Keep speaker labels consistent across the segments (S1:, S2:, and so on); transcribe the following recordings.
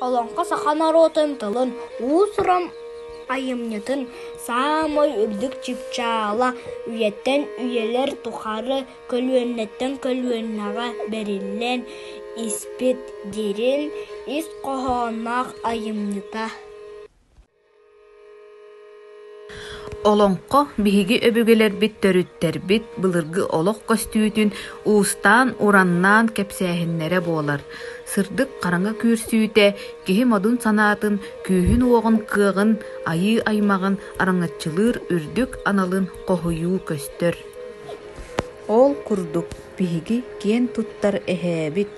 S1: Олоҥхо саха норуотун тылын, уус-уран айымньытын саамай үрдүк чыпчаала үйэттэн үйэлэр тухары көлүөнэттэн көлүөнэҕэ бэриллэн испит дириҥ ис хоһоонноох айымньыта. Олоҥхо биһиги өбүгэлэрбит төрүттэрбит былыргы олох көстүүтүн уустаан-ураннаан кэпсээһиннэрэ буолар. Сырдык хараҥа күүрсүүтэ киһи модун санаатын, күүһүн-уоҕун, кыаҕын, айыы аймаҕын араҥаччылыыр үрдүк аналын хоһуйуу көстөр. Ол курдук биһиги киэн туттар эһээбит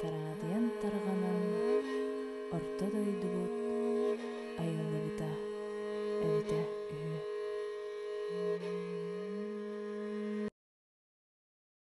S1: тараадыйан тарҕанан орто дойдубут айыллыбыта эбитэ үһү